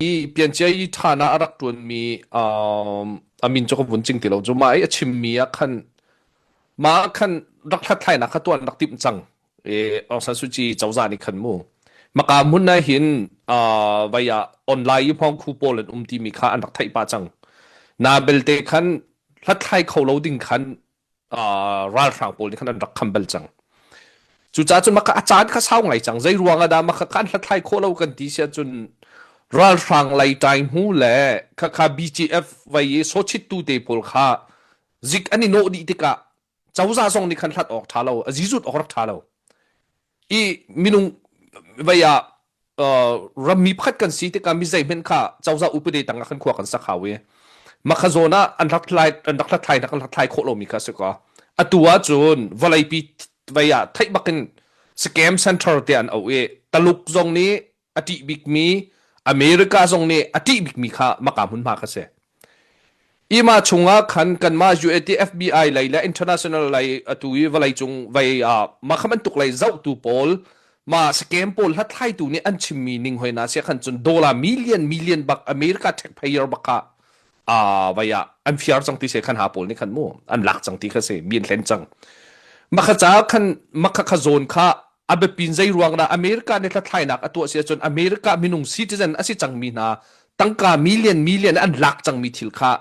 i piancia i ṭhan ah a rak ṭuanmi um, a min cu ka vun cing ti lo cu mah i a chimmi ah khan mah khan rak hlathlainak kha tuan rak timh cang e Aung San Suu Kyi cozah nih khan mu maka mun na hin uh, vaya online i hmong khu pawl an um timi kha an rak theih pah cang na belte khan hlathlai kho lo ding khan ralhrang pawl nih khan an rak kham bal cang cucaah cu maka a caan kha sau ngai cang zei ruangah dah maka kan hlathlai khawh lo kan ti si ahcun ralhrang lai ṭai hnu le khakha BGF vai i sochittu te pawl kha zik an i nawh dih tikah cozah zong nih khan hlat awk ṭha lo a zizut awk rak ṭha lo i minung vei ah rammi pakhat kan si tikah mi zeihmen kha cozah upade tangah kan khua kan sak hau i makha zawn ah an hlathlai an rak hlathlai nak an hlathlai khawh lomi kha si ka atu ah cun vawleipi vei ah theih bakin scam center te an auh i taluk zong nih a ṭih bikmi America zong nih a ṭih bikmi kha maka hmunhma kha si. Ima chungah khan kanmah UAT FBI lei le international lei atu i vawlei cung vei ah mah kha bantuk lei zohtu pawl mah scam pawl hlathlaitu nih an chimmi ning hoi na sia khan cun dolar million million bak America taxpayer bak kha a vai ah an fiar cang ti se khan ha pawl nih khan mu an lak cang ti kha se min hlen cang makha ca khan makha kha zawn kha a biapin zei ruang da america ne thlainak a tuah si cun america minung citizen asi cang mi hna tangka million million an lak cang mi thil kha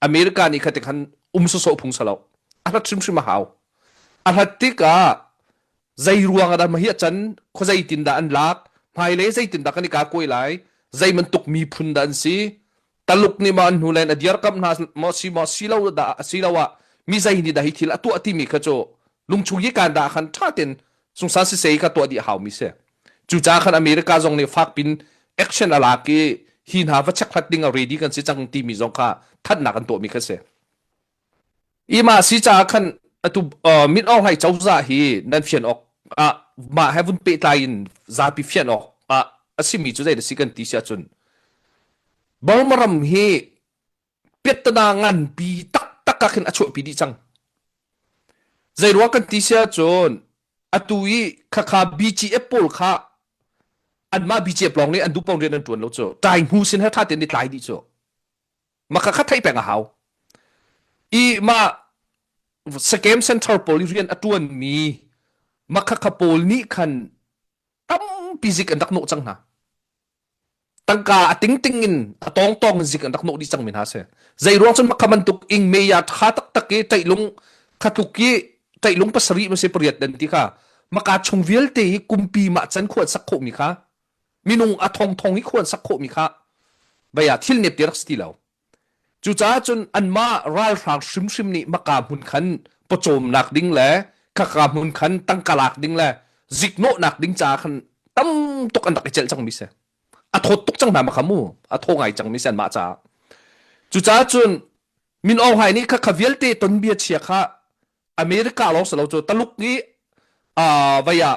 america ni khate khan um so so phung salo a hlat hrim hrim a hau a hlat tika zei ruang da ma hi chan kho zei tin da an lak hmai le zei tin da kan ka koi lai zei man tuk mi phun da an si Taluk nih ma an hnulen a dirkamh hna maw si maw si lo da si lo ah mi zei ni da hi thil a tuah timi kha cu lungchung hi kan da khan tha ten sungsan si sei ka tuah di hau mi se cu ca khan America zong nih fak pin action a lak i hi hna va check hlat ding a ready kan si cang ti mi zong kha thatnak an tuah mi kha si i mah si caah khan atu mit awrhlai cozah hi nan fian awk ah mah he vun pehtlai in zapi fian awk ah a simi cu zeidah si kan ti si ahcun Burma ram hi pettana nganpi taktak ah khin a chuahpi dih cang zei ruang kan ti si ahcun atu i khakha BGF pawl kha anmah BGF lawng nih an duh pawng rian an tuan lo cu tai hmu sin he tha ten i tlai dih cu maka kha theih peng a hau i ma Sakem Center pawl i rian a tuan mi makha pawl nih khan tampi zik an rak nawh cang hna tangka a ting ting in a tong tong zik an rak nawh dih cang mi hna si zei ruang cun makha bantuk ing meya tha tak tak i teilung khatluk i teilung pasarih ma se pariat dan ti kha maka chung vialte hi kumpi ma chan khuat sak khawh mi kha minung a thongthong i khuan sak khawhmi kha vei ah thil nepte rak si ti lo cucaah cun anmah ralhrang hrimhrim nih maka hmun khan pawcawmnak ding le khaka hmun khan tangka lak ding le ziknawhnak ding caah khan tam tuk an rak i celh cang mi se a thawt tuk cang hna ma mu a tho ngai cang mi se anmah caah cucaah cun min ong hai nih kha kha vialte ton bia chia kha america lawng salo cu taluk i a vaya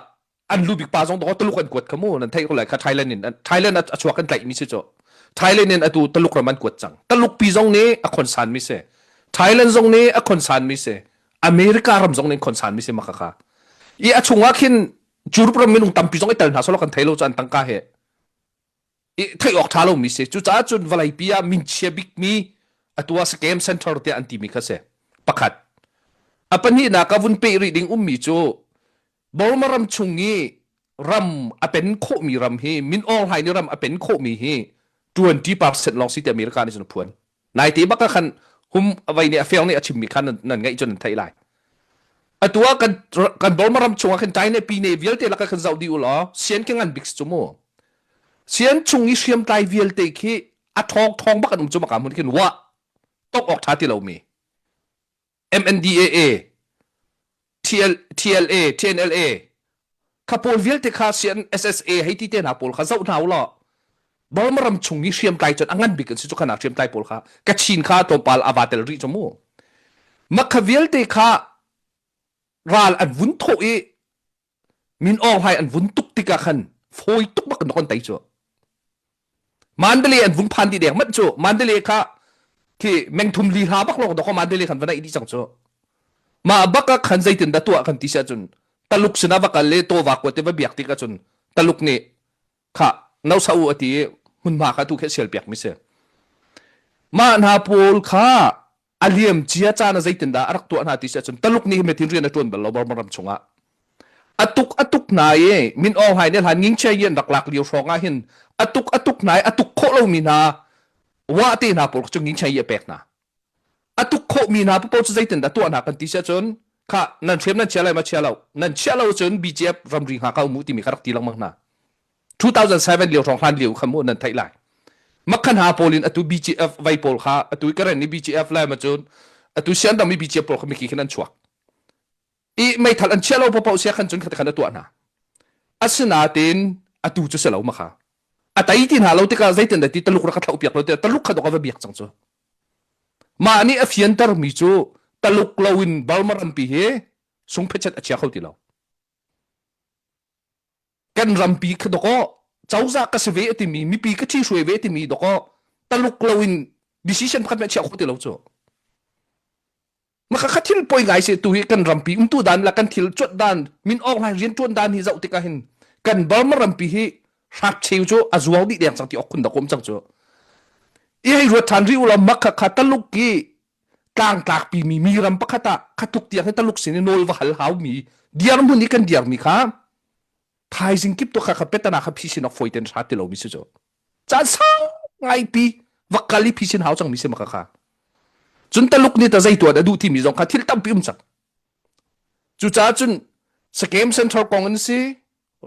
an lu bik pa zong dong taluk an kuat khamu nan thei lai kha Thailand in Thailand a chuak kan tlaih mi si cho Thailand in atu taluk ram an kuat cang taluk pi zong nih a khonsan mi se Thailand zong nih a khonsan mi se America ram zong nih khonsan mi se maka kha i a chungah khin Europe ram minung tampi zong i tel hna solo kan thei lo chan tangka he theih awk tha lomi si cucaah cun vawlei pi ah min chia bikmi atua scam center tiah an timi kha si pakhat a pahnihnak a vun pe rih ding ummi cu Burma ram chung i ram a pen khawhmi ram hi min awnglai ni ram a pen khawhmi hi 20% lawng si ti America nih cun a phuan Naite bak ah khan hum vai nih a fiang nih a chim mi khan nan ngaih cun nan theih lai. Atu ah kan kan Burma ram chung ah khan China pine vialte lak khan zoh di u law sian ke ngan bik chu mu. Sian chung i hriam tlai vialte khi a thong thong bak an um chu maka mun khin wa tok ok tha ti lo mi. MNDAA, TLA, TNLA, kha pawl vialte kha sian SSA hei ti te hna pawl kha zoh hna u law Burma ram chung i hriamtlai cun a ngan bik an si cu khana hriamtlai pawl kha Kachin kha tlawmpal a va tel rih cu mu mah kha vialte kha ral an vun thawh i min aw hai an vun tuk tikah khan fawi tuk bak na kon tai cu mandale an vung phan di dek mat cu mandale kha khi mengthum li hla bak long dok mandale khan vanai di chang cu ma baka khan zeitin da tua kan ti sa cun taluk sina va kal le to wa ko te va biak ti ka cun taluk ni kha no sa u ati hun ma kha tu khe sial piak mi se ma na paul kha a liam cia caan ah zeitindah a rak tuah hna ti si ahcun taluk nih metin rian a tuan bal lo Burma ram chungah atuk atuk hna i min aw hai ne hlan nging che yin rak lak lio hrawng ah hin atuk atuk hna i atuk khawh lomi hna wa te hna pawl cu nging che yi a pek hna atuk khawh mi hna pawl cu zeitindah tuah hna kan ti si ahcun kha nan hrem nan chia lai ma chia lo nan chia lo cun BGF ramri hngakau mu timi kha rak ti lengmang hna 2007 lio hrawng hlan lio kha mu nan theih lai makhan ha pawl in atu BGF vai pawl kha atu karen ni BGF lai ma cun atu sian dang mi BGF pawl kha miki khin an chuak i mei thal an chia lo pa pau sia khan cun khata khan atuah na asinatin atu chu selo ma kha atai tin ha lo tika zeitin da ti taluk ra ka thau piak lo te taluk kha do ka va biak chang chu ma ni a fiantar mi chu taluk loin balmaran pi hi sung phechet a chia kho ti lo kan rampi kha dok awh cozah ka se ve timi mipi ka thi hruai ve timi dok awh taluk loin decision pakhat ma chiah kho ti lo cu maka kha thil poi ngai se tu hi kan rampi umtu dan la kan thil chot dan min ok lai rian tuan dan hi zau tika hin kan burma rampi hi hrak cheu chu azuang di deng sang ti ok khun da kom chang chu i hai ruat than ri ulam makha kha taluk ki tlangtlakpi mi mi ram pakhat ah khatuk tiang hi taluk sin i nawl va hal haumi dirhmun i kan dirmi kha thaizing kip to kha kha petana kha phisin ok foi ten sa ti lomi si cu caan sau ngai pi va kal i phisin hau chang mi se maka kha cun taluk ni ta zeitu da duh timi zong kha thil tampi um chang cu ca cun skem central kong in si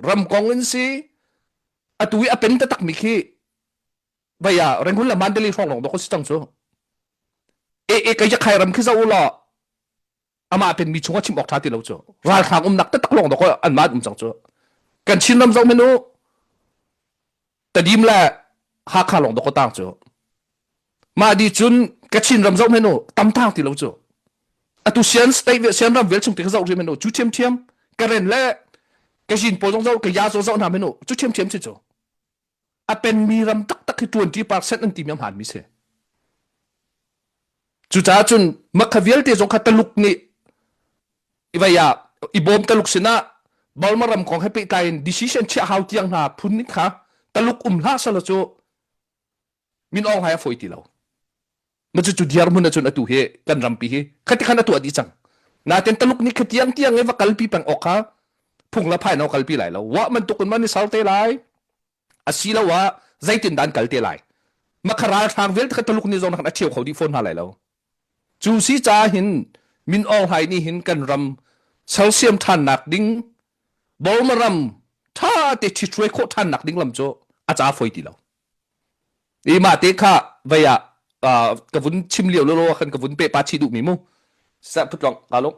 ram kong in si atu i apen ta tak mi khi Bai a renghun la mandeli hrong long dok si tang chu. E e kai ja khai ram khi za ulo ama pen mi chunga chim ok tha ti lo chu. Ral hrang um nak te tak long dok an ma um chang chu. Kan chin ram zau menu tadim la ha kha long dok tang chu. Ma di chun ka chin ram zau menu tam tang ti lo chu. Atu sian state ve sian ram vel chung ti ka zau ri menu chu thiam thiam karen le ka jin po zong zau ka ya zo zau na menu chu thiam thiam chi chu. a penmi ram taktak hi twenty percent an timi a hmaanmi si. Cucaah cun makha vialte zong kha taluk nih ivai ah i bawm taluk sinah Burma ram kong he pehtlai in decision chiah hau tiang hna phun ning kha taluk um hlah sala cu min awng hai a foi ti lo na cu cu diar mun cun atu hi kan rampi hi khati khan atu adi cang na ten taluk ni khatiang tiang e va kalpi peng ok ha phung la phai no kalpi lai lo wa man tukun man ni salte lai asilo wa zaitin dan kalte lai makharal hrang vel thak taluk ni zong khan a cheu kho di phone ha lai lo cu si cha hin min ong hai ni hin kan ram celsium than nak ding bolmaram tha te thi thuai kho than nak ding lam chu a cha foi ti lo i mah te kha vei ah ka vun chim lio lolo khan ka vun pe pa chi duh mi mu sa phutlong ka lung